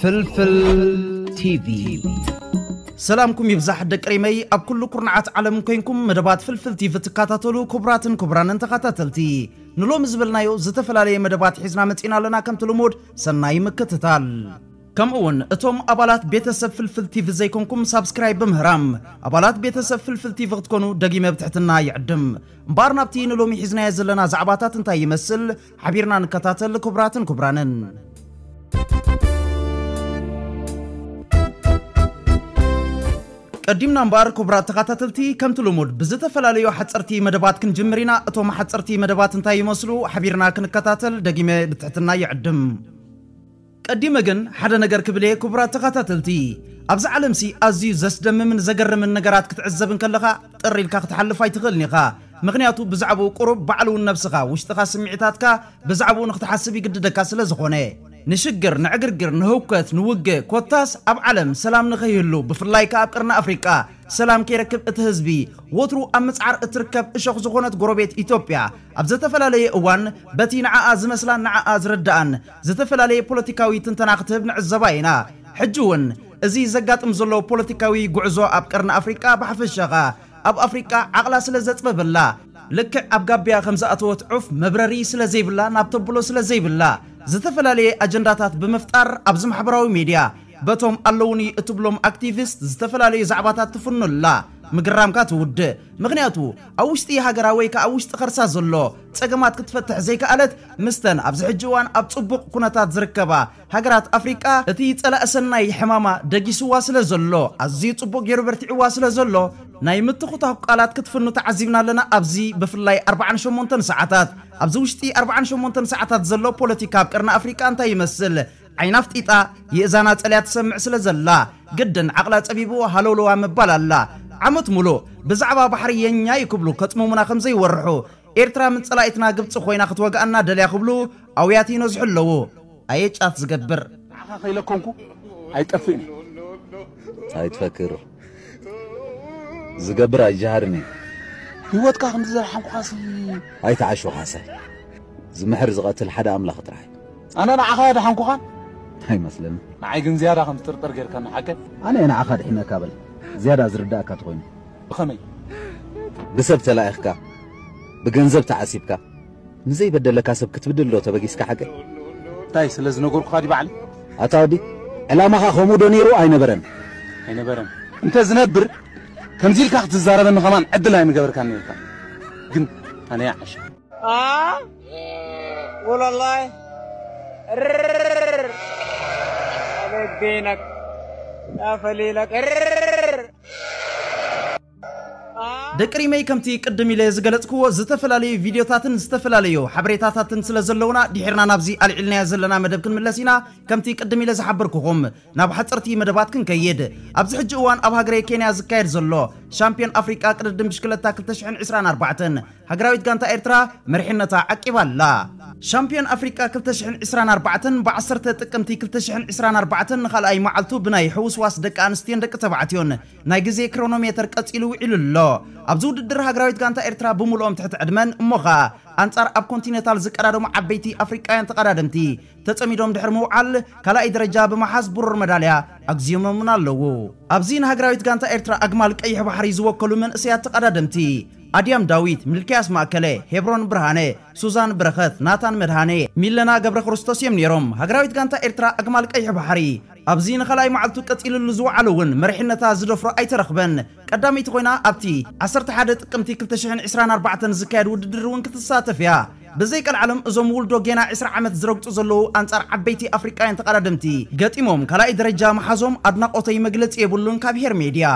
ፍልፍል ቲቪ ሰላምኩም ይብዛሕ ደቂ ሪመይ ኣብ ኩሉ ኩርናዓት ዓለም ኮይንኩም መደባት ፍልፍል ቲቪ ትከታተሉ ክቡራትን ክቡራንን ተኸታተልቲ ንሎሚ ዝበልናዮ ዝተፈላለየ መደባት ሒዝና መፂና ኣለና ከምቲ ልሙድ ሰናይ ምክትታል! ከምኡ ውን እቶም ኣባላት ቤተሰብ ፍልፍል ቲቪ ዘይኮንኩም ሳብስክራይብ ብምህራም ኣባላት ቤተሰብ ፍልፍል ቲቪ ክትኮኑ ደጊመ ብትሕትና ይዕድም። እምበኣር ናብቲ ንሎሚ ሒዝናዮ ዘለና ዛዕባታት እንታይ ይመስል ሓቢርና ንከታተል ክቡራትን ክቡራንን። ቀዲምና እምበኣር ኩቡራት ተኻታተልቲ ከምቲ ልሙድ ብዝተፈላለዩ ሓጸርቲ መደባት ክንጅምር ኢና እቶም ሓጸርቲ መደባት እንታይ ይመስሉ ሓቢርና ክንከታተል ደጊመ ብትሕትና ይዕድም። ቀዲመ ግን ሓደ ነገር ክብል እየ ኩቡራት ተኻታተልቲ ኣብዛ ዓለምሲ ኣዝዩ ዘስደምምን ዘገርምን ነገራት ክትዕዘብ እንከለኻ ጥር ኢልካ ክትሓልፍ ኣይትኽእልን ኢኻ ምኽንያቱ ብዛዕብኡ ቁሩብ ባዕሉ ውን ነብስኻ ውሽጥኻ ስሚዒታትካ ብዛዕብኡ ንኽትሓስብ ይግድደካ ስለዝኾነ ንሽግር፣ ንዕግርግር፣ ንህውከት፣ ንውግእ ኮታስ ኣብ ዓለም ሰላም ንኸይህሉ ብፍላይ ከኣ ኣብ ቀርኒ ኣፍሪቃ ሰላም ከይረክብ እቲ ህዝቢ ወትሩ ኣብ ምጽዓር እትርከብ እሾኽ ዝኾነት ጎረቤት ኢትዮጵያ ኣብ ዘተፈላለየ እዋን በቲ ንዓኣ ዝመስላን ንዓኣ ዝርድኣን ዝተፈላለየ ፖለቲካዊ ትንተና ክትህብ ንዕዘባ ኢና። ሕጂ'ውን እዚ ዘጋጥም ዘሎ ፖለቲካዊ ጉዕዞ ኣብ ቀርኒ ኣፍሪቃ ብሓፈሻ ከኣ ኣብ ኣፍሪቃ ዓቕላ ስለ ዘጽበበላ፣ ልክዕ ኣብ ጋብያ ከም ዝኣተወት ዑፍ መብረሪ ስለ ዘይብላ ናብ ተብሎ ስለ ዘይብላ፣ ዝተፈላለየ ኣጀንዳታት ብምፍጣር ኣብዚ ማሕበራዊ ሜድያ በቶም ኣለዉኒ እትብሎም ኣክቲቪስት ዝተፈላለዩ ዛዕባታት ትፍኑ ኣላ። ምግራምካ ትውድእ። ምኽንያቱ ኣብ ውሽጢ ሃገራ ወይ ከኣ ኣብ ውሽጢ ከርሳ ዘሎ ጸገማት ክትፈትሕ ዘይከኣለት ምስተን ኣብዚ ሕጂ እዋን ኣብ ጽቡቕ ኩነታት ዝርከባ ሃገራት ኣፍሪቃ እቲ ጸላኢ ሰናይ ሕማማ ደጊሱዋ ስለ ዘሎ፣ ኣዝዩ ጽቡቕ ጌሩ በርቲዑዋ ስለ ዘሎ፣ ናይ ምትኹታኹ ቃላት ክትፍኑ ተዓዚብና ኣለና ኣብዚ ብፍላይ ኣርብዓን ሸሞንተን ሰዓታት። ኣብዚ ውሽጢ ኣርብዓን ሸሞንተን ሰዓታት ዘሎ ፖለቲካ ኣብ ቀርኒ ኣፍሪቃ እንታይ ይመስል ዓይና ኣፍጢጣ የእዛና ጸልያ ትሰምዕ ስለ ዘላ ግድን ዓቕላ ጸቢቡ ሃለውለዋ ምባል ኣላ። ዓመት ሙሉእ ብዛዕባ ባሕሪ የኛ'ዩ ክብሉ ከጽምሙና ከም ዘይወርሑ፣ ኤርትራ ምን ጸላኢትና ግብጺ ኮይና ክትወግኣና ደልያ ክብሉ ኣውያት ይነዝሑ ኣለዉ ኣየ ጫት ዝገብር። ንዓኻ ከይለኮምኩ ኣይጠፍእን እየ። ታይ ትፈክር ዝገብር ኣይጀሃርን እዩ። ሂወትካ ክንዲ ዘድሓንኩኻሲ። ኣይትዓሹ ካሕሳይ ዝምሕር ዝቐትል ሓደ ኣምላኽ ጥራሕ እዩ። ኣነ ንዓኻ ኣየድሓንኩኻን። ኣይመስለንን። ንዓይ ግን ዝያዳ ከም ትጥርጥር ጌርካኒ ሓቀይ። ኣነ እየ ንዓኻ ኣድሒነካ በል ዝያዳ ዝርደኣካ ተኾይኑ። ብኸመይ? ብሰብ ተላኢኽካ፣ ብገንዘብ ተዓሲብካ፣ ንዘይበደለካ ሰብ ክትብድልዶ ተበጊስካ ሓቀይ? እንታይ ስለ ዝነገርኩኻ ድዩ ባዕለይ? ኣታ ወዲ ዕላማኻ ከምኡዶ ነይሩ ኣይነበረን? ኣይነበረን። እንተ ዝነብር ከምዚ ኢልካ ክትዛረበኒ ከማን ዕድል ኣይምገበርካን ነይርካ። ግን ኣነ ይዓሽ። ኣ ወላላይ ርር ኣበገይናክ ኣፈሊላክ ርር ደቂ ሪመይ ከምቲ ቅድም ኢለ ዝገለጽክዎ ዝተፈላለዩ ቪድዮታትን ዝተፈላለዩ ሓበሬታታትን ስለ ዘለውና ድሒርና ናብዚ ኣልዒልናዮ ዘለና መደብ ክንምለስ ኢና ከምቲ ቅድም ኢለ ዝሓበርኩኹም ናብ ሓጸርቲ መደባት ክንከይድ ኣብዚ ሕጂ እዋን ኣብ ሃገረ ኬንያ ዝካየድ ዘሎ ሻምፒዮን ኣፍሪቃ ቅድድም ብሽክለታ 2024 ሃገራዊት ጋንታ ኤርትራ መሪሕነታ ዓቂባ ኣላ። ሻምፕዮን ኣፍሪቃ ክልተ ሽሕን ዕስራን ኣርባዕተን ብ ዓሰርተ ጥቅምቲ ክልተ ሽሕን ዕስራን ኣርባዕተን ንኻልኣይ መዓልቱ ብናይ ሕውስዋስ ደቂ ኣንስትዮን ደቂ ተባዕትዮን ናይ ግዜ ክሮኖሜተር ቀጺሉ ውዒሉ ኣሎ። ኣብዚ ውድድር ሃገራዊት ጋንታ ኤርትራ ብምሉኦም ትሕቲ ዕድመን እሞ ኸኣ ኣንጻር ኣብ ኮንቲኔታል ዝቀዳደሙ ዓበይቲ ኣፍሪቃውያን ተቐዳደምቲ ተጸሚዶም ድሕሪ ምውዓል ካልኣይ ደረጃ ብምሓዝ ብሩር መዳልያ ኣግዚዮሞምን ኣለዉ። ኣብዚ ንሃገራዊት ጋንታ ኤርትራ ኣግማል ቀይሕ ባሕሪ ዝወከሉ መንእሰያት ተቐዳደምቲ፣ ኣድያም ዳዊት፣ ሚልክያስ ማእከለ፣ ሄብሮን ብርሃነ፣ ሱዛን በረኸት፣ ናታን መድሃኔ፣ ሚለና ገብረክርስቶስ እዮም ነይሮም። ሃገራዊት ጋንታ ኤርትራ ኣግማል ቀይሕ ባሕሪ ኣብዚ ንኻልኣይ መዓልቱ ቀጺልሉ ዝወዓለ'ውን መሪሕነታ ዝደፍሮ ኣይተረኽበን። ቀዳመይቲ ኮይና ኣብቲ ዓሰርተ ሓደ ጥቅምቲ ክልተ ሽሕን ዕስራን ኣርባዕተን ዝካየድ ውድድር እውን ክትሳተፍ እያ። ብዘይ ቀልዓለም እዞም ውልዶ ጌና ዕስራ ዓመት ዝረግጹ ዘለዉ ኣንጻር ዓበይቲ ኣፍሪቃውያን ተቐዳደምቲ ገጢሞም ካልኣይ ደረጃ ምሓዞም ኣድናቖተይ መግለጺ የብሉን ካብ ሄር ሜድያ።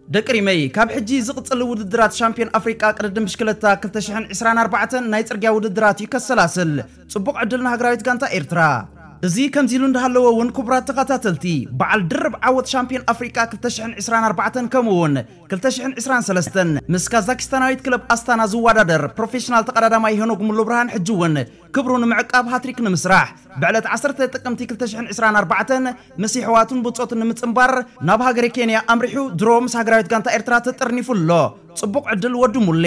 ደቂ ሪመይ ካብ ሕጂ ዝቕጽል ውድድራት ሻምፕዮን ኣፍሪቃ ቅድድም ብሽክለታ ክልተ ሽሕን ዕስራን ኣርባዕተን ናይ ጽርግያ ውድድራት እዩ ከሰላስል። ጽቡቕ ዕድል ንሃገራዊት ጋንታ ኤርትራ። እዚ ከምዚ ኢሉ እንዳሃለወ ውን ኩቡራት ተኻታተልቲ ባዓል ድርብ ዓወት ሻምፕዮን ኣፍሪቃ ክልተ ሽሕን ዕስራን ኣርባዕተን ከምኡ ውን ክልተ ሽሕን ዕስራን ሰለስተን ምስ ካዛኪስታናዊት ክለብ ኣስታና ዝዋዳደር ፕሮፌሽናል ተቐዳዳማይ ሄኖግ ሙሉብርሃን ሕጂ ውን ክብሩ ንምዕቃብ ሃትሪክ ንምስራሕ ብዕለት ዓሰርተ ጥቅምቲ ክልተ ሽሕን ዕስራን ኣርባዕተን ምስ የሕዋቱን ቡጾቱን ንምጽንባር ናብ ሃገረ ኬንያ ኣምሪሑ ድሮ ምስ ሃገራዊት ጋንታ ኤርትራ ተጠርኒፉ ኣሎ ጽቡቕ ዕድል ወዲ ሙሌ።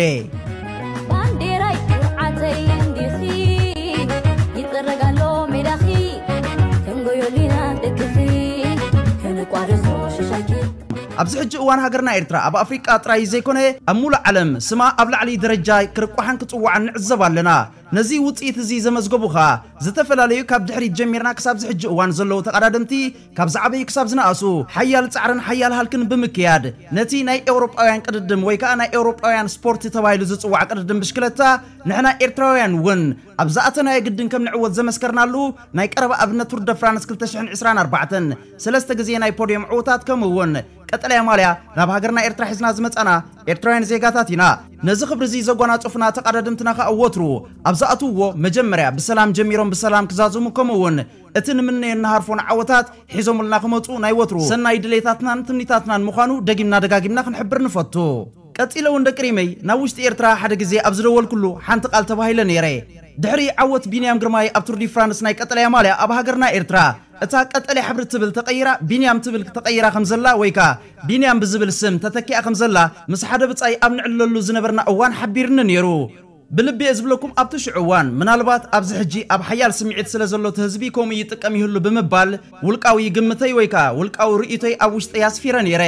ኣብዚ ሕጂ እዋን ሃገርና ኤርትራ ኣብ ኣፍሪቃ ጥራይ ዘይኮነ ኣብ ሙሉእ ዓለም ስማ ኣብ ላዕሊ ደረጃ ክርቋሕን ክጽዋዕን ንዕዘብ ኣለና። ነዚ ውጽኢት እዚ ዘመዝገቡ ከኣ ዝተፈላለዩ ካብ ድሕሪት ጀሚርና ክሳብ ዝሕጂ እዋን ዘለዉ ተቐዳደምቲ ካብ ዝዓበዩ ክሳብ ዝነኣሱ ሓያል ጻዕርን ሓያል ሃልክን ብምክያድ ነቲ ናይ ኤውሮጳውያን ቅድድም ወይ ከኣ ናይ ኤውሮጳውያን ስፖርት ተባሂሉ ዝጽዋዕ ቅድድም ብሽክለታ ንሕና ኤርትራውያን እውን ኣብ ዝኣተናዮ ግድን ከም ንዕወት ዘመስከርናሉ ናይ ቀረባ ኣብነት ቱር ደ ፍራንስ ክልተ ሽሕን ዕስራን ኣርባዕተን ሰለስተ ግዜ ናይ ፖድዮም ዕውታት ከምኡ እውን ቀጠልያ ማልያ ናብ ሃገርና ኤርትራ ሒዝና ዝመጻና ኤርትራውያን ዜጋታት ኢና። ነዚ ክብሪ እዚ ዘጓናጸፉና ተቐዳደምትና ከኣ ወትሩ ኣብ ዝኣትውዎ መጀመርያ ብሰላም ጀሚሮም ብሰላም ክዛዝሙ ከምኡ እውን እቲ ንምነዮን ንሃርፎን ዓወታት ሒዞምልና ክመጹ ናይ ወትሩ ሰናይ ድሌታትናን ትምኒታትናን ምዃኑ ደጊምና ደጋጊምና ክንሕብር ንፈቱ። ቀጺለ ውን ደቂ ሪመይ ናብ ውሽጢ ኤርትራ ሓደ ግዜ ኣብ ዝደወልኩሉ ሓንቲ ቃል ተባሂለ ነይረ ድሕሪ ዓወት ቢንያም ግርማይ ኣብ ቱር ዲፍራንስ ናይ ቀጠልያ ማልያ ኣብ ሃገርና ኤርትራ እታ ቀጠልያ ሕብሪ ትብል ተቀይራ ቢንያም ትብል ተቀይራ ከም ዘላ ወይ ከኣ ቢንያም ብዝብል ስም ተተኪኣ ከም ዘላ ምስ ሓደ ብጻይ ኣብ ንዕልለሉ ዝነበርና እዋን ሓቢርኒ ነይሩ። ብልቢ እየ ዝብለኩም ኣብቲ ሽዑ እዋን ምናልባት ኣብዚ ሕጂ ኣብ ሓያል ስምዒት ስለ ዘሎ እቲ ህዝቢ ከምኡ ይጥቀም ይህሉ ብምባል ውልቃዊ ግምተይ ወይ ከኣ ውልቃዊ ርእይቶይ ኣብ ውሽጠይ ኣስፊረ ነይረ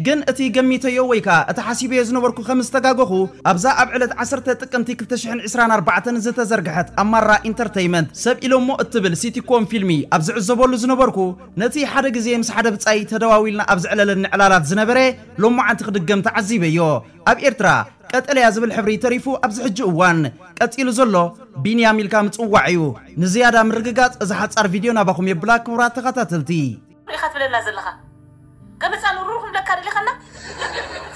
ግን እቲ ገሚተዮ ወይ ከኣ እቲ ሓሲበዮ ዝነበርኩ ከም ዝተጋገኹ ኣብዛ ኣብ ዕለት ዓሰርተ ጥቅምቲ ክልተ ሽሕን ዕስራን ኣርባዕተን ዝተዘርግሐት ኣማራ ኢንተርተይመንት ሰብ ኢሎሞ እትብል ሲቲኮም ፊልሚ ኣብ ዝዕዘበሉ ዝነበርኩ ነቲ ሓደ ግዜ ምስ ሓደ ብጻይ ተደዋዊልና ኣብ ዘዕለለኒ ዕላላት ዝነበረ ሎማዓንቲ ክድገም ተዓዚበዮ ኣብ ኤርትራ ቀጠልያ ዝብል ሕብሪ ተሪፉ ኣብዚ ሕጂ እዋን። ቀጺሉ ዘሎ ቢንያም ኢልካ ምጽዋዕ እዩ። ንዝያዳ ምርግጋጽ እዛ ሓጻር ቪድዮ ናባኹም የብላ ክቡራት ተኸታተልቲ። ኢኻ ትብለና ዘለኻ ገመጻ ንሩሩኹም ለካ ደሊኻና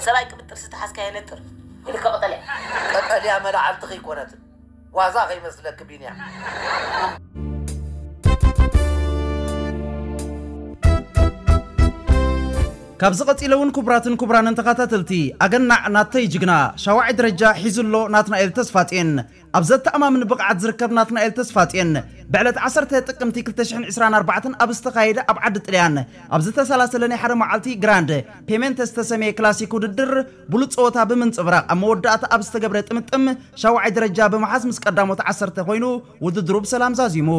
ሰብኣይ ቅብጥ ጥርሲ ተሓዝካ የነጥር ኢልካ ቀጠልያ። ቀጠልያ መላዓልቲ ከይኮነት። ዋዛ ከይመስለኪ ቢንያ። ካብዚ ቀጺለ እውን ክቡራትን ክቡራንን ተኸታተልቲ ኣገናዕ ናተይ ጅግና ሻውዓይ ደረጃ ሒዙ ኣሎ ናትናኤል ተስፋጼን ኣብ ዘተኣማምን ብቕዓት ዝርከብ ናትናኤል ተስፋጼን ብዕለት 10 ጥቅምቲ 2024 ኣብ ዝተኻየደ ኣብ ዓዲ ጥልያን ኣብ ዝተሰላሰለ ናይ ሓደ መዓልቲ ግራንድ ፔሜንተ ዝተሰምየ ክላሲክ ውድድር ብሉጽ ጸወታ ብምንጽብራቕ ኣብ መወዳእታ ኣብ ዝተገብረ ጥምጥም ሻውዓይ ደረጃ ብምሓዝ ምስ ቀዳሞት ዓሰርተ ኮይኑ ውድድሩ ብሰላም ዛዚሙ።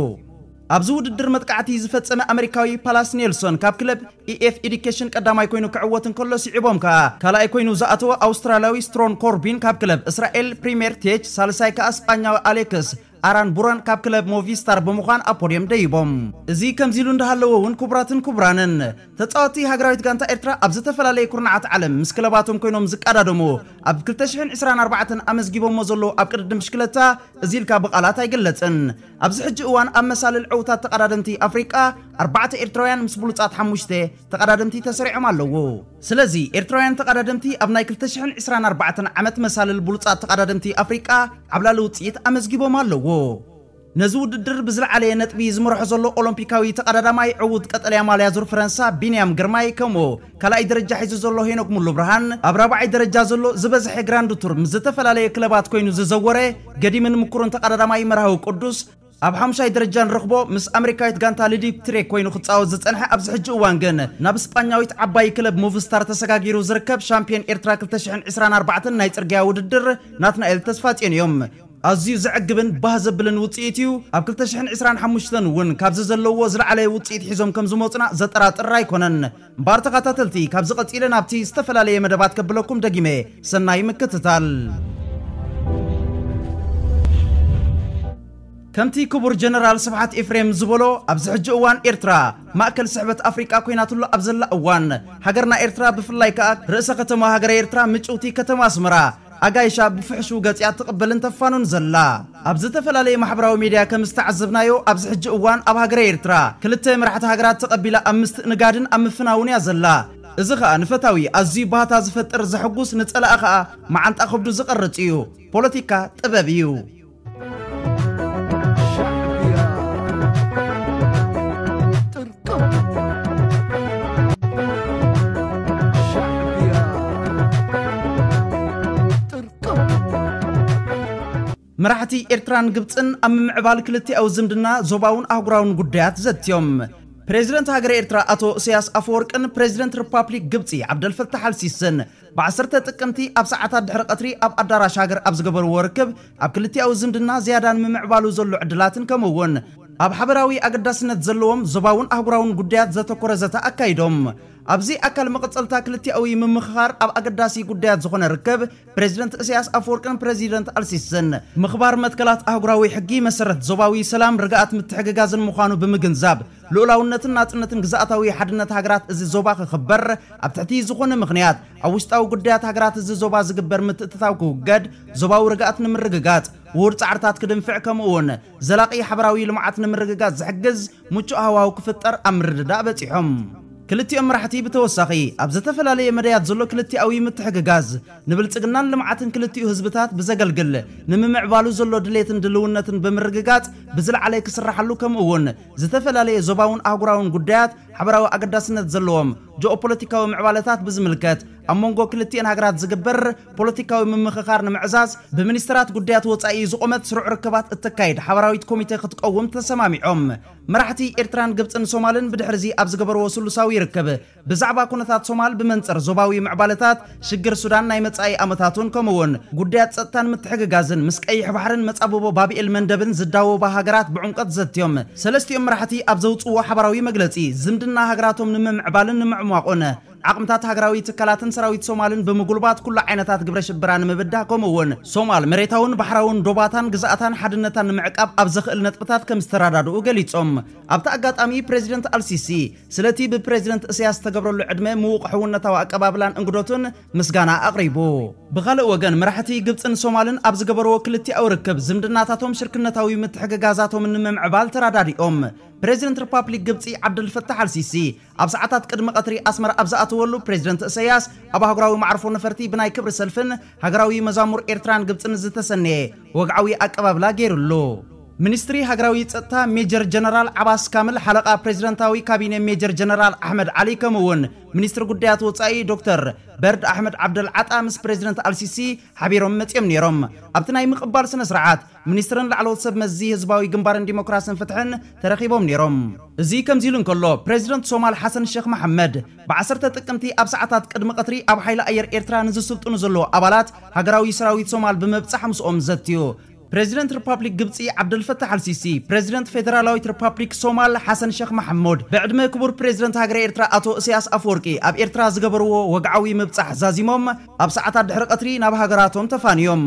ኣብዚ ውድድር መጥቃዕቲ ዝፈጸመ ኣመሪካዊ ፓላስ ኔልሶን ካብ ክለብ EF Education ቀዳማይ ኮይኑ ክዕወት እንከሎ ስዒቦም ከኣ ካልኣይ ኮይኑ ዝኣተወ ኣውስትራልያዊ ስትሮን ኮርቢን ካብ ክለብ እስራኤል ፕሪሜር ቴች ሳልሳይ ከኣ ስጳኛዊ ኣሌክስ ኣራን ቡራን ካብ ክለብ ሞቪስታር ብምዃን ኣብ ፖድዮም ደይቦም። እዚ ከምዚሉ እንዳሃለወ ውን ክቡራትን ክቡራንን፣ ተጻወትቲ ሃገራዊት ጋንታ ኤርትራ ኣብ ዝተፈላለየ ኩርናዓት ዓለም ምስ ክለባቶም ኮይኖም ዝቃዳደሙ ኣብ ክልተ ሽሕን ዕስራን ኣርባዕተን ኣመዝጊቦሞ ዘለዉ ኣብ ቅድድም ብሽክለታ እዚ ኢልካ ብቃላት ኣይግለጽን። ኣብዚ ሕጂ እዋን ኣብ መሳልል ዕውታት ተቀዳደምቲ ኣፍሪቃ ኣርባዕተ ኤርትራውያን ምስ ብሉጻት ሓሙሽተ ተቐዳደምቲ ተሰሪዖም ኣለዉ። ስለዚ ኤርትራውያን ተቐዳደምቲ ኣብ ናይ ክልተ ሽሕን ዕስራን ኣርባዕተን ዓመት መሳልል ብሉጻት ተቐዳደምቲ ኣፍሪቃ ዓብላሊ ውጽኢት ኣመዝጊቦም ኣለዉ። ነዚ ውድድር ብዝለዓለየ ነጥቢ ዝመርሖ ዘሎ ኦሎምፒካዊ ተቐዳዳማይ ዕዉት ቀጠልያ ማልያ ዙር ፈረንሳ ቢንያም ግርማይ ከምኡ ካልኣይ ደረጃ ሒዙ ዘሎ ሄኖክ ሙሉብርሃን ኣብ ራብዓይ ደረጃ ዘሎ ዝበዝሐ ግራንድ ቱር ምስ ዝተፈላለየ ክለባት ኮይኑ ዝዘወረ ገዲምን ምኩርን ተቐዳዳማይ መርሃዊ ቅዱስ ኣብ ሓሙሻይ ደረጃ ንረኽቦ፣ ምስ ኣመሪካዊት ጋንታ ልዲት ትሬ ኮይኑ ክጻወት ዝጸንሐ ኣብዚ ሕጂ እዋን ግን ናብ ስጳኛዊት ዓባይ ክለብ ሙቭስታር ተሰጋጊሩ ዝርከብ ሻምፕዮን ኤርትራ ክልተ ሽሕን ዕስራን ኣርባዕተን ናይ ጽርግያ ውድድር ናትናኤል ተስፋጽዮን እዮም። ኣዝዩ ዘዕግብን ባህ ዘብልን ውጽኢት እዩ፣ ኣብ ክልተ ሽሕን ዕስራን ሓሙሽተን እውን ካብዚ ዘለውዎ ዝለዓለ ውጽኢት ሒዞም ከምዝመጹና ዘጠራጥር ኣይኮነን። እምባር ተኻታተልቲ ካብዚ ቀጺለ ናብቲ ዝተፈላለየ መደባት ከብለኩም ደጊመ ሰናይ ምክትታል። ከምቲ ክቡር ጀነራል ስብሓት ኤፍሬም ዝበሎ ኣብዚ ሕጂ እዋን ኤርትራ ማእከል ስሕበት ኣፍሪቃ ኮይናትሉ ኣብ ዘላ እዋን ሃገርና ኤርትራ ብፍላይ ከኣ ርእሰ ከተማ ሃገረ ኤርትራ ምጭውቲ ከተማ ኣስመራ ኣጋይሻ ብፍሕሹው ገጺኣ ትቕበልን ተፋኑን ዘላ። ኣብ ዝተፈላለየ ማሕበራዊ ሜድያ ከም ዝተዓዘብናዮ ኣብዚ ሕጂ እዋን ኣብ ሃገረ ኤርትራ ክልተ መራሕቲ ሃገራት ተቐቢላ ኣብ ምስትእንጋድን ኣብ ምፍናውን እያ ዘላ። እዚ ከኣ ንፈታዊ ኣዝዩ ባህታ ዝፈጥር ዘሕጉስ ንጸላኢ ከኣ መዓንጣ ከብዱ ዝቐርጽ እዩ። ፖለቲካ ጥበብ እዩ። መራሕቲ ኤርትራን ግብፅን ኣብ ምምዕባል ክልቲኣዊ ዝምድና ዞባውን ኣህጉራውን ጉዳያት ዘትዮም ፕሬዚደንት ሃገረ ኤርትራ ኣቶ እሰያስ ኣፈወርቅን ፕሬዚደንት ሪፓብሊክ ግብፂ ዓብደልፈታሕ ኣልሲስን ብ ዓሰርተ ጥቅምቲ ኣብ ሰዓታት ድሕሪ ቀትሪ ኣብ ኣዳራሽ ሃገር ኣብ ዝገበርዎ ርክብ፣ ኣብ ክልቲኣዊ ዝምድና ዝያዳ ንምምዕባሉ ዘሎ ዕድላትን ከምኡ እውን ኣብ ሓበራዊ ኣገዳስነት ዘለዎም ዞባውን ኣህጉራውን ጉዳያት ዘተኮረ ዘተ ኣካይዶም። ኣብዚ ኣካል መቐጸልታ ክልቲኣዊ ምምኽኻር ኣብ ኣገዳሲ ጉዳያት ዝኾነ ርክብ ፕረዚደንት እሰያስ ኣፈወርቅን ፕረዚደንት ኣልሲስን፣ ምኽባር መትከላት ኣህጉራዊ ሕጊ፣ መሰረት ዞባዊ ሰላም፣ ርግኣት፣ ምትሕግጋዝን ምዃኑ ብምግንዛብ፣ ልኡላውነትን ናጽነትን ግዝኣታዊ ሓድነት ሃገራት እዚ ዞባ ክኽበር፣ ኣብ ትሕቲ ዝኾነ ምኽንያት ኣብ ውሽጣዊ ጉዳያት ሃገራት እዚ ዞባ ዝግበር ምትእትታው ክውገድ፣ ዞባዊ ርግኣት ንምርግጋጽ ውሁድ ጻዕርታት ክድንፍዕ ከምኡ'ውን ዘላቒ ሓበራዊ ልምዓት ንምርግጋጽ ዝሕግዝ ምቹእ ሃዋህው ክፍጠር ኣብ ምርድዳእ በጺሖም። ክልቲኦም መራሕቲ ብተወሳኺ ኣብ ዝተፈላለየ መዳያት ዘሎ ክልቲኣዊ ምትሕግጋዝ ንብልጽግናን ልምዓትን ክልቲኡ ህዝብታት ብዘገልግል ንምምዕባሉ ዘሎ ድሌትን ድልውነትን ብምርግጋጽ ብዝለዓለ ክስራሓሉ ከምኡ'ውን ዝተፈላለየ ዞባውን ኣህጉራውን ጉዳያት፣ ሓበራዊ ኣገዳስነት ዘለዎም ጂኦፖለቲካዊ ምዕባለታት ብዝምልከት ኣብ መንጎ ክልቲኤን ሃገራት ዝግበር ፖለቲካዊ ምምኽኻር ንምዕዛዝ ብሚኒስተራት ጉዳያት ወጻኢ ዝቖመት ስሩዕ ርክባት እተካይድ ሓባራዊት ኮሚቴ ክትቀውም ተሰማሚዖም። መራሕቲ ኤርትራን ግብጽን ሶማልን ብድሕሪዚ ኣብ ዝገበርዎ ስሉሳዊ ርክብ፣ ብዛዕባ ኩነታት ሶማል ብመንጽር ዞባዊ ምዕባለታት፣ ሽግር ሱዳን፣ ናይ መጻኢ ኣመታቱን ከምኡ'ውን ጉዳያት ጸጥታን ምትሕግጋዝን ምስ ቀይሕ ባሕርን መጻብቦ ባብኤል መንደብን ዝዳወባ ሃገራት ብዕምቆት ዘትዮም። ሰለስቲኦም መራሕቲ ኣብ ዘውጽእዎ ሓባራዊ መግለጺ፣ ዝምድና ሃገራቶም ንምምዕባልን ንምዕሟቑን፣ ዓቕምታት ሃገራዊ ትካላትን ሰራዊት ሶማልን ብምጉልባት ኩሉ ዓይነታት ግብረ-ሽበራ ንምብዳህ ከምኡ'ውን ሶማል መሬታውን ባሕራውን ዶባታን ግዝኣታን ሓድነታን ንምዕቃብ ኣብ ዘኽእል ነጥብታት ከምዝተረዳድኡ ገሊጾም። ኣብቲ ኣጋጣሚ ፕረዚደንት ኣልሲሲ፣ ስለቲ ብፕረዚደንት እስያስ ዝተገብረሉ ዕድመ ምዉቕ ሕውነታዊ ኣቀባብላን እንግዶቱን ምስጋና ኣቕሪቡ። ብኻልእ ወገን መራሕቲ ግብጽን ሶማልን ኣብ ዝገበርዎ ክልቲኣዊ ርክብ፣ ዝምድናታቶም ሽርክነታዊ ምትሕግጋዛቶምን ንምምዕባል ተራዳዲኦም። ፕረዚደንት ርፓፕሊክ ግብጺ ዓብደልፈታሕ ኣልሲሲ ኣብ ሰዓታት ቅድሚ ቀትሪ ኣስመራ ኣብ ዝኣተወሉ፣ ፕረዚደንት እሰያስ ኣብ ኣህጉራዊ መዓርፎ ነፈርቲ ብናይ ክብሪ ሰልፍን፣ ሃገራዊ መዛሙር ኤርትራን ግብጽን ዝተሰነየ ወግዓዊ ኣቀባብላ ገይሩሉ። ሚኒስትሪ ሃገራዊ ጸጥታ ሜጀር ጀነራል ዓባስ ካምል፣ ሓለቓ ፕረዚደንታዊ ካቢነ ሜጀር ጀነራል ኣሕመድ ዓሊ ከምኡ'ውን ሚኒስትሪ ጉዳያት ወጻኢ ዶክተር በርድ ኣሕመድ ዓብደል ዓጣ ምስ ፕረዚደንት ኣልሲሲ ሓቢሮም መጺኦም ነይሮም። ኣብቲ ናይ ምቕባል ስነ-ስርዓት፣ ሚኒስትርን ላዕለዎት ሰብ መዚ ህዝባዊ ግንባርን ዲሞክራስን ፍትሕን ተረኺቦም ነይሮም። እዚ ከምዚ'ሉ እንከሎ፣ ፕረዚደንት ሶማል ሓሰን ሸኽ መሓመድ፣ ብ ዓሰርተ ጥቅምቲ ኣብ ሰዓታት ቅድሚ ቐትሪ ኣብ ሓይሊ ኣየር ኤርትራ ንዝስልጥኑ ዘለዉ ኣባላት ሃገራዊ ሰራዊት ሶማል ብምብጻሕ ምስኦም ዘትዩ። ፕረዚደንት ርፓፕሊክ ግብጺ ዓብደልፈታሕ ኣልሲሲ፣ ፕረዚደንት ፌደራላዊት ርፓፕሊክ ሶማል ሓሰን ሸኽ ማሕሙድ፣ ብዕድመ ክቡር ፕረዚደንት ሃገረ ኤርትራ ኣቶ እስያስ ኣፈወርቂ ኣብ ኤርትራ ዝገበርዎ ወግዓዊ ምብጻሕ ዛዚሞም፣ ኣብ ሰዓታት ድሕሪ ቀትሪ ናብ ሃገራቶም ተፋንዮም።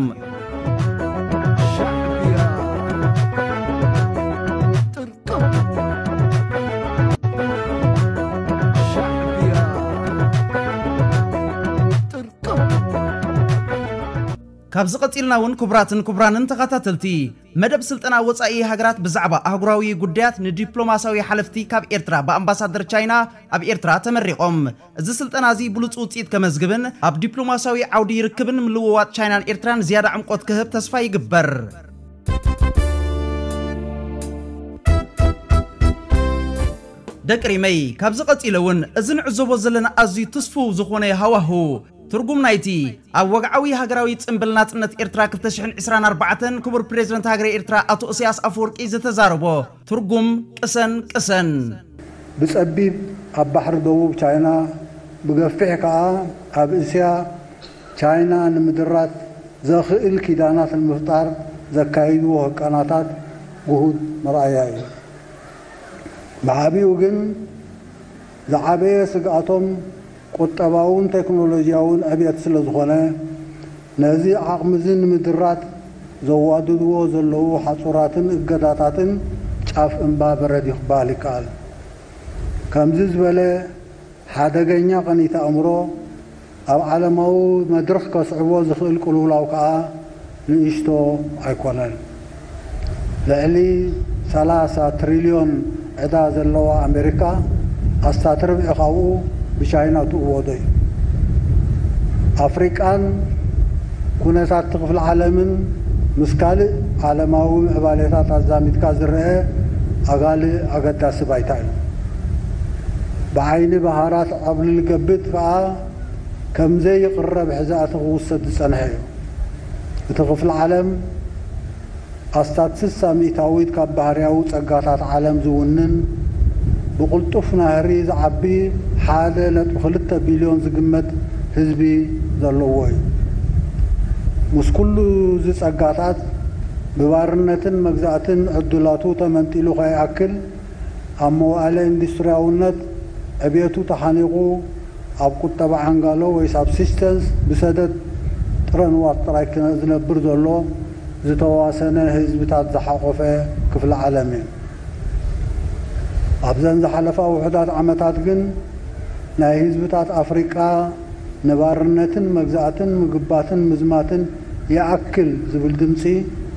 ካብዚ ቀጺልና እውን ክቡራትን ክቡራንን ተኸታተልቲ፣ መደብ ስልጠና ወጻኢ ሃገራት ብዛዕባ ኣህጉራዊ ጉዳያት ንዲፕሎማስያዊ ሓለፍቲ ካብ ኤርትራ ብኣምባሳደር ቻይና ኣብ ኤርትራ ተመሪቖም። እዚ ስልጠና እዚ ብሉጽ ውጽኢት ከመዝግብን ኣብ ዲፕሎማሲያዊ ዓውዲ ርክብን ምልውዋጥ ቻይናን ኤርትራን ዝያዳ ዕምቆት ክህብ ተስፋ ይግበር። ደቂ ሪመይ ካብዚ ቀጺለ ውን እዚ ንዕዘቦ ዘለና ኣዝዩ ትስፉው ዝኾነ ሃዋሁ ትርጉም ናይቲ ኣብ ወግዓዊ ሃገራዊ ጽንብል ናጽነት ኤርትራ ክልተ ሽሕን ዕስራን ኣርባዕተን ክቡር ፕረዚደንት ሃገረ ኤርትራ ኣቶ እሰያስ ኣፈወርቂ ዝተዛረቦ ትርጉም ቅሰን ቅሰን። ብጸቢብ ኣብ ባሕሪ ደቡብ ቻይና ብገፊሕ ከኣ ኣብ እስያ ቻይና ንምድራት ዘኽእል ኪዳናት ንምፍጣር ዘካይድዎ ህቀናታት ግሁድ መርኣያ እዩ። ብዓቢኡ ግን ዝዓበየ ስግኣቶም ቁጠባውን ቴክኖሎጂያውን ዕብየት ስለዝኾነ፣ ነዚ ዓቕሚ'ዚ ንምድራት ዘዋድድዎ ዘለዉ ሓጹራትን እገዳታትን ጫፍ እምባ በረድ'ዩ ክበሃል ይከኣል። ከምዚ ዝበለ ሓደገኛ ቅኒት ኣእምሮ፣ ኣብ ዓለማዊ መድርኽ ከስዕቦ ዝኽእል ቅልውላው ከኣ ንእሽቶ ኣይኮነን። ልዕሊ ሰላሳ ትሪልዮን ዕዳ ዘለዋ ኣሜሪካ ኣስታት ርብዒ ካብኡ ብቻይና ትእወዶ እዩ። ኣፍሪቃን ኩነታት'ቲ ክፍሊ ዓለምን ምስ ካልእ ዓለማዊ ምዕባሌታት ኣዛሚድካ ዝረኣ ኣጋሊ ኣገዳሲ ባይታ እዩ። ብዓይኒ ብሃራት ኣብ ልልገብጥ ከኣ ከም ዘይቕረብ ሕዛእቲ ክውሰድ ዝጸንሐ እዩ። እቲ ክፍሊ ዓለም ኣስታት ስሳ ሚእታዊት ካብ ባህርያዊ ጸጋታት ዓለም ዝውንን ብቕልጡፍ ናህሪ ዝዓቢ ሓደ ነጥቢ ክልተ ቢልዮን ዝግመት ህዝቢ ዘለዎ እዩ። ምስ ኩሉ እዚ ጸጋታት ብባርነትን መግዛእትን ዕድላቱ ተመንጢሉ ከይኣክል፣ ኣብ መዋእለ ኢንዱስትርያውነት ዕብየቱ ተሓኒቑ ኣብ ቁጠባ ዓንጋሎ ወይ ሳብሲስተንስ ብሰደድ ጥረ ንዋት ጥራይ ዝነብር ዘሎ ዝተዋሰነ ህዝብታት ዝሓቖፈ ክፍሊ ዓለም እዩ። ኣብዘን ዝሓለፋ ውሑዳት ዓመታት ግን ናይ ህዝብታት ኣፍሪቃ ንባርነትን መግዛእትን ምግባትን ምዝማትን ይኣክል ዝብል ድምጺ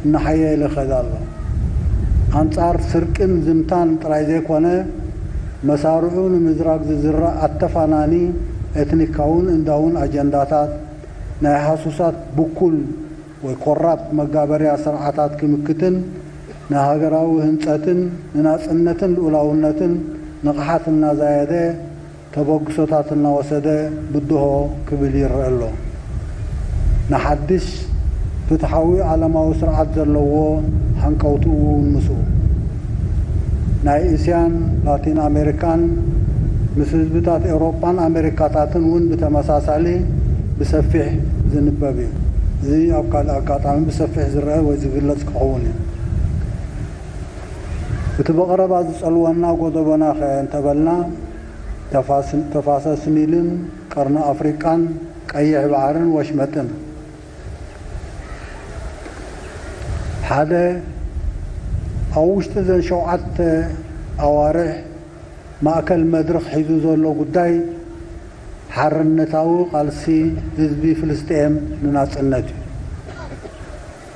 እናሓየለ ይኸድ ኣሎ። ኣንጻር ስርቅን ዝምታን ጥራይ ዘይኮነ፣ መሳርዑ ንምዝራግ ዝዝራእ ኣተፋናኒ ኤትኒካውን እንዳውን ኣጀንዳታት፣ ናይ ሃሱሳት ብኩል ወይ ኮራፕት መጋበርያ ስርዓታት ክምክትን ንሃገራዊ ህንጸትን ንናጽነትን ልኡላውነትን ንቕሓት እናዛየደ፣ ተበግሶታት እናወሰደ ብድሆ ክብል ይረኣ ኣሎ። ንሓድሽ ፍትሓዊ ዓለማዊ ስርዓት ዘለዎ ሃንቀውትኡ እውን ምስኡ። ናይ እስያን ላቲን ኣሜሪካን ምስ ህዝብታት ኤውሮጳን ኣሜሪካታትን እውን ብተመሳሳሊ ብሰፊሕ ዝንበብ እዩ። እዚ ኣብ ካልእ ኣጋጣሚ ብሰፊሕ ዝረኣ ወይ ዝግለጽ ክኸውን እዩ። እቲ ብቐረባ ዝጸልወና ጎደቦናኸ እንተበልና፣ ተፋሰስ ኒልን ቀርኒ ኣፍሪቃን ቀይሕ ባሕርን ወሽመጥን ሓደ ኣብ ውሽጢ እዘን ሸውዓተ ኣዋርሕ ማእከል መድርኽ ሒዙ ዘሎ ጉዳይ ሓርነታዊ ቃልሲ ህዝቢ ፍልስጤም ንናጽነት እዩ።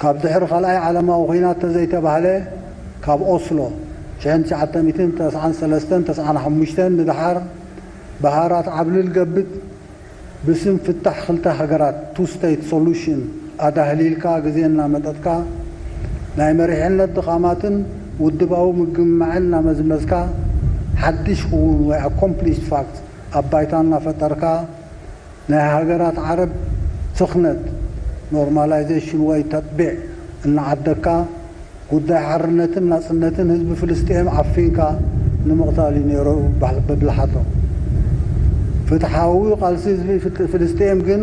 ካብ ድሕሪ ካልኣይ ዓለማዊ ኹናት ተዘይተባህለ ካብ ኦስሎ ሽሕን ትሽዓተ ሚእትን ተስዓን ሰለስተን ተስዓን ሓሙሽተን ንደሓር ብሃራት ዓብልል ገብጥ ብስም ፍታሕ ክልተ ሃገራት፣ Two State Solution፣ ኣዳህሊልካ ግዜ እናመጠጥካ ናይ መሪሕነት ድኻማትን ውድባዊ ምግምማዕን እናመዝመዝካ ሓድሽ ኹውን ወይ Accomplished Facts ኣብ ባይታ እናፈጠርካ ናይ ሃገራት ዓረብ ስኽነት፣ ኖርማላይዘሽን ወይ ተጥቢዕ፣ እናዓደግካ፣ ጉዳይ ሓርነትን ናጽነትን ህዝቢ ፍልስጤም ዓፊንካ ንምቕታል እዩ ነይሩ ብብልሓቶም። ፍትሓዊ ቃልሲ ህዝቢ ፍልስጤም ግን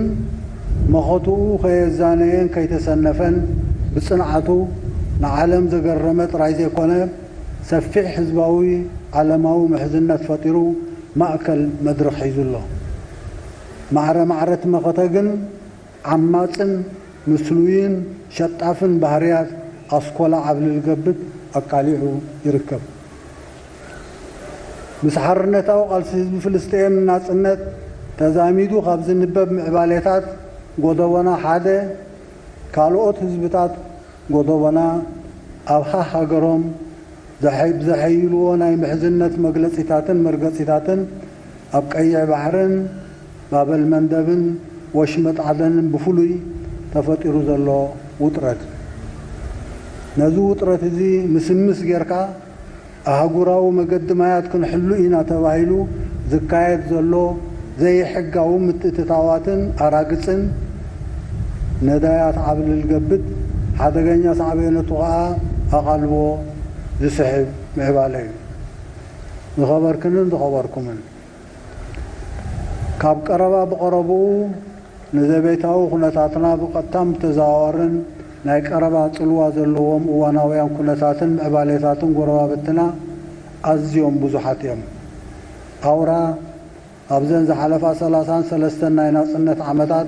መኸትኡ ከየዛነየን ከይተሰነፈን ብጽንዓቱ ንዓለም ዘገረመ ጥራይ ዘይኮነ፣ ሰፊሕ ህዝባዊ ዓለማዊ ምሕዝነት ፈጢሩ ማእከል መድርኽ ሒዙ ኣሎ። ማዕረ ማዕረ'ቲ መኸተ ግን ዓማጽን ምስሉይን ሸጣፍን ባህርያት ኣስኮላ ዓብልል ገብት ኣቃሊዑ ይርከብ። ምስ ሓርነታዊ ቃልሲ ህዝቢ ፍልስጤኤም ንናጽነት ተዛሚዱ ካብ ዝንበብ ምዕባሌታት ጎዶቦና ሓደ፣ ካልኦት ህዝብታት ጎዶቦና ኣብ ሃሃገሮም ብዘሐይልዎ ናይ ምሕዝነት መግለጺታትን መርገጺታትን፣ ኣብ ቀይሕ ባሕርን ባበል መንደብን ወሽመጥ ዓደንን ብፍሉይ ተፈጢሩ ዘሎ ውጥረት እዩ። ነዚ ውጥረት እዚ ምስምስ ጌርካ ኣህጉራዊ መገዲ ማያት ክንሕሉ ኢና ተባሂሉ ዝካየድ ዘሎ ዘይሕጋዊ ምትእትታዋትን ኣራግጽን ነዳያት ዓብልል ገብጥ ሓደገኛ ሳዕቤነቱ ከኣ ኣቓልቦ ዝስሕብ ምዕባለ እዩ። ዝኸበርክንን ዝኸበርኩምን፣ ካብ ቀረባ ብቐረብኡ ንዘቤታዊ ኩነታትና ብቐጥታን ብተዘዋዋርን ናይ ቀረባ ጽልዋ ዘለዎም እዋናውያን ኩነታትን ምዕባሌታትን ጎረባብትና ኣዝዮም ብዙሓት እዮም። ኣውራ ኣብዘን ዝሓለፋ ሰላሳን ሰለስተን ናይ ናጽነት ዓመታት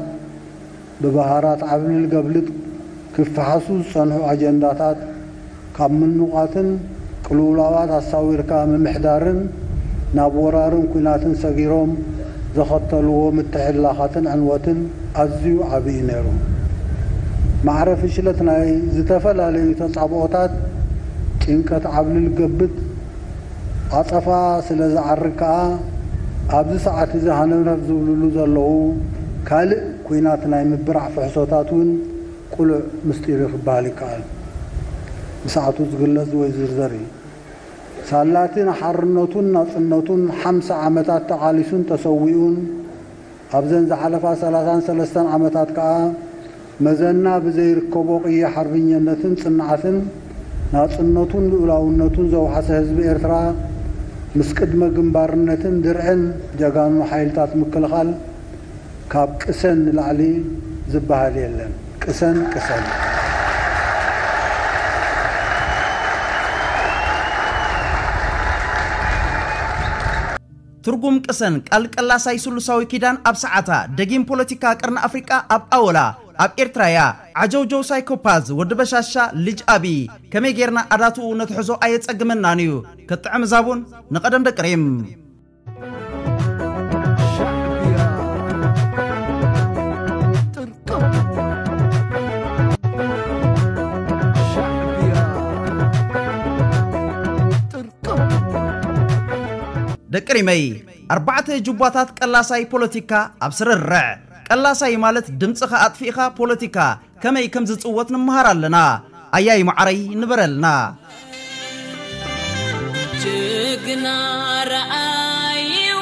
ብበሃራት ዓብልልገብልጥ ክፈሓሱ ዝጸንሑ ኣጀንዳታት ካብ ምንቛትን ቅልውላዋት ኣሳዊርካ ምምሕዳርን ናብ ወራርን ኲናትን ሰጊሮም ዘኸተልዎ ምትሕልላኻትን ዕንወትን ኣዝዩ ዓቢ እዩ ነይሩ። ማዕረ ፍሽለት ናይ ዝተፈላለዩ ተጻብኦታት ጭንቀት ዓብልልገብጥ፣ ዓጸፋ ስለ ዝዓርግ ከኣ ኣብዚ ሰዓት እዚ ሃነርነር ዝብልሉ ዘለዉ ካልእ ኲናት ናይ ምብራዕ ፍሕሶታት እውን ቅሉዕ ምስጢር'ዩ ክበሃል ይከኣል። ብሰዓቱ ዝግለጽ ወይ ዝዝርዘር እዩ። ሳላ'ቲ ንሓርነቱን ናጽነቱን ሓምሳ ዓመታት ተቓሊሱን ተሰዊኡን ኣብዘን ዝሓለፋ ሰላሳን ሰለስተን ዓመታት ከኣ መዘና ብዘይርከቦ ቅያ ሓርብኘነትን ጽንዓትን ናጽነቱን ልኡላውነቱን ዘውሓሰ ህዝቢ ኤርትራ ምስ ቅድመ ግንባርነትን ድርዕን ጀጋኑ ሓይልታት ምክልኻል ካብ ቅሰን ንላዕሊ ዝበሃል የለን። ቅሰን ቅሰን! ትርጉም ቅሰን ቃል ቀላሳይ ስሉሳዊ ኪዳን ኣብ ሰዓታ ደጊም ፖለቲካ ቀርኒ ኣፍሪቃ ኣብ ኣወላ ኣብ ኤርትራ እያ ዓጀውጀው ሳይኮፓዝ ወዲ በሻሻ ልጅ ኣብይ ከመይ ጌርና ኣዳትኡ ነትሕዞ ኣየጸግመናን እዩ ክጥዕም ዛቡን ንቀደም ደቂ ሪም ደቂ ሪመይ ኣርባዕተ ጁባታት ቀላሳይ ፖለቲካ ኣብ ስርርዕ ቀላሳይ ማለት ድምጽኻ ኣጥፊእኻ ፖለቲካ ከመይ ከም ዝጽወት ንመሃር ኣለና ኣያይ መዓረይ ንበረልና ጅግና ረኣይዎ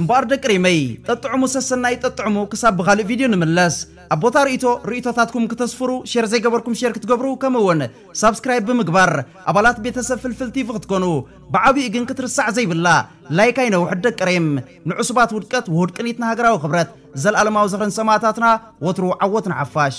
እምበኣር ደቂ ሪመይ ጠጥዕሙ ሰሰናይ ጠጥዕሙ ክሳብ ብኻልእ ቪድዮ ንምለስ ኣብ ቦታ ርእቶ ርእቶታትኩም ክተስፍሩ ሼር ዘይገበርኩም ሼር ክትገብሩ ከምኡ እውን ሳብስክራይብ ብምግባር ኣባላት ቤተሰብ ፍልፍል ቲቪ ክትኮኑ ብዓብኡ ግን ክትርሳዕ ዘይብላ ላይክ ኣይነውሕድ ደቂ ሬም ንዕሱባት ውድቀት ውሁድ ቅኒት ንሃገራዊ ክብረት ዘልኣለማዊ ዝኽርን ሰማእታትና ወትሩ ዓወት ንሓፋሽ